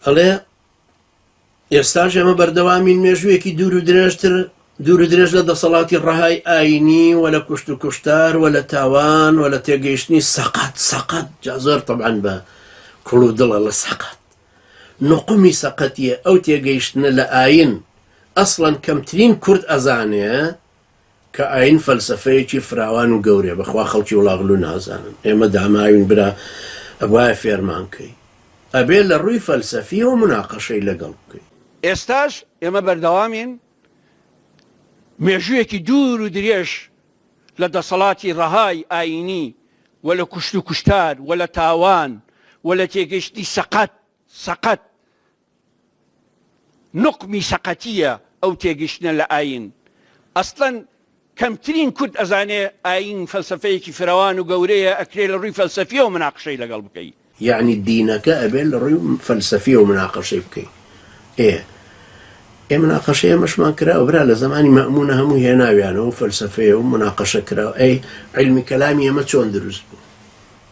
ئەڵێ، ئێستاش ئێمە بەردەوامین مێژوویەکی دوور و درێژتر دوور و درێژ لە دەسەڵاتی ڕەهای ئایینی و لە کوشت و کوشتار و لە تاوان و لە تێگەیشتنی سەقەت، سەقەت، جا زۆر تەبعەن بە کوڵ و دڵە لە سەقەت. نوقومی سەقەتییە ئەو تێگەیشتنە لە ئایین. ئەسڵەن کەمترین کورد ئەزانێ کە ئاین فەلسەفەیەکی فراوان و گەورەیە بەخوا خەڵکی وڵاغلو نازانن ئێمە داماوین برا ئەبوایە فێرمان کەی ئەبێ لە ڕووی فەلسەفیەوە مناقەشەی لەگەڵ بکەی. ئێستاش ئێمە بەردەوامین مێژوویەکی دوور و درێژ لە دەسەڵاتی ڕەهای ئایینی و لە کوشت و کوشتار و لە تاوان و لە تێگەیشتنی سەقەت سەقەت نوقمی سەقەتییە ئەو تێگەشتنە لە ئایین. ئەسڵەن کەمترین کورد ئەزانێ ئایین فەلسەفەیەکی فرەوان و گەورەیە ئەکرێ لە ڕووی فەلسەفییەوە مناقشەی لەگەڵ بکەی. یەعنی دینەکە ئەبێ لە ڕووی فەلسەفییەوە مناقشەی بکەی. ئێ ئێ مناقشەی ئەمەشمان کراوە برا لە زەمانی مەئموونە هەموو هێناویانەوە و فەلسەفەیە و مناقشە کراوە ئەی عیلمی کەلامی ئێمە چۆن دروست بوو؟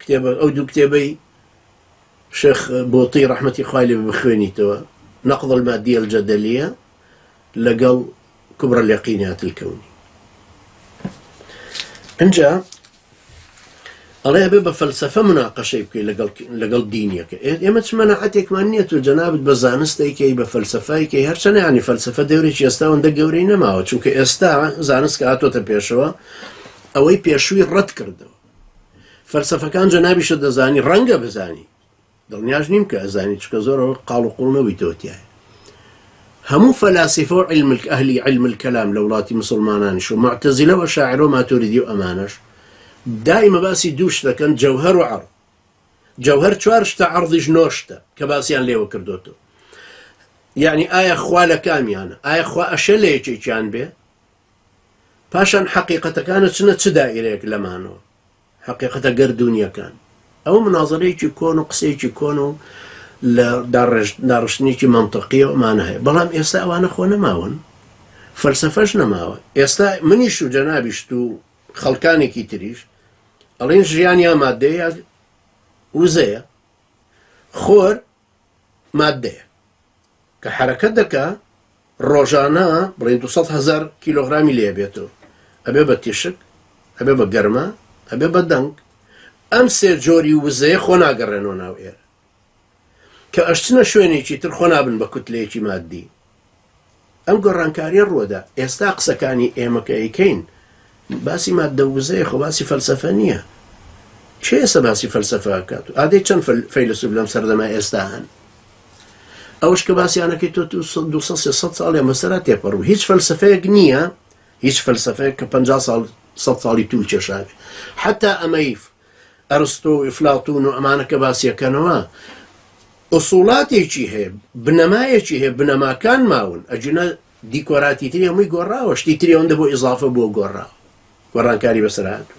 کتێبە ئەو دوو کتێبەی شێخ بۆتی ڕەحمەتی خوای لێ بخوێنیتەوە نقض المادیە الجدلیە لەگەڵ کبر الیقینات الکونی ئەجا ئەڵێ بێ بە فەلسفە مناقەشەی بکەی لەگەڵ لەگەڵ دینیەکە ئێمە چ مەنەعەتێکمان نییە و جەنابت بە زانستێکی بە فەلسفایکەی هەرچەند ینی فەلسفە دەورێکی ئێستا ئەوەندە گەورەی نەماوە چونکە ئێستا زانست کە هاتۆتە پێشەوە ئەوەی پێشووی ڕەت کردەوە فەلسەفەکان جەنابیشت دەزانی ڕەنگە بزانی دڵنیاش نیم کە ئەزانی چکە زۆرەوە قاڵ و قوڵ نەوی تۆتیایە هەموو فەلاسیفە و علملک ئەهلی علمل کەلام لە وڵاتی مسلمانانش و معتەزیلە و شاعر و ماتوریدی و ئەمانش دایمە باسی دوو شتەکەن جەوهەر و عڕ جەوهەر چوار شتە عڕضیش نۆشتە کە باسییان لێوە کردوەوە یعنی ئایا خوا لە کامیانە ئایا خوا ئەشە لە یەکێکیان بێ پاشان حەقیقەتەکان ئەچنە چ دائیرەیەک لەمانەوە، حەقیقەتە گەردوونییەکان. ئەوە منازەرەیەکی کۆن و قسەیەکی کۆن و لە داڕێژ داڕشتنێکی مەنتەقییە ئەمانە هەیە، بەڵام ئێستا ئەوانە خۆ نەماون، فەلسەفەش نەماوە. ئێستا منیش و جەنابیشت و خەڵکانێکی تریش ئەڵێین ژیان یا ماددەیە یا وزەیە. خۆر ماددەیە کە حەرەکەت دەکا ڕۆژانە بڵێن دوو سەد هەزار کیلۆغرامی لێ بێت و ئەبێ بە تیشک ئەبێ بە گەرما ئەبێ بە دەنگ ئەم سێ جۆری وزەیە خۆ ناگەڕێنەوە ناو ئێر کە ئەشچنە شوێنێکی تر خۆ نابن بە کوتلەیەکی ماددی ئەم گۆڕانکاریە ڕوەدا ئێستا قسەکانی ئێمە کە ئەیکەین باسی ماددە ووزەیە خۆ باسی فەلسەفە نیە کێ ئێستا باسی فەلسەفە ئەکات و ئادەی چەند فەیلسوف لەم سەردەمە ئێستا هەن ئەوش کە باسییانەکەی تۆ 200 ساڵیان بەسەرا تێپەڕ و هیچ فەلسفەیەک نییە هیچ فەلسفەیە کە 50 ساڵ ساڵی توول کێشاوێ حتا ئەمەی ئەرستۆ و ئیفلاتون و ئەمانە کە باسیەکەنەوە ئوسوڵاتێکی هەیە بنەمایەکی هەیە بنەماکان ماون ئەجونە دیکۆراتی تری هەمووی گۆڕاوە شتی تری ئەوەندە بۆ ئیزافە بۆ گۆڕاوە گۆڕانکاری بەسەرهاتوو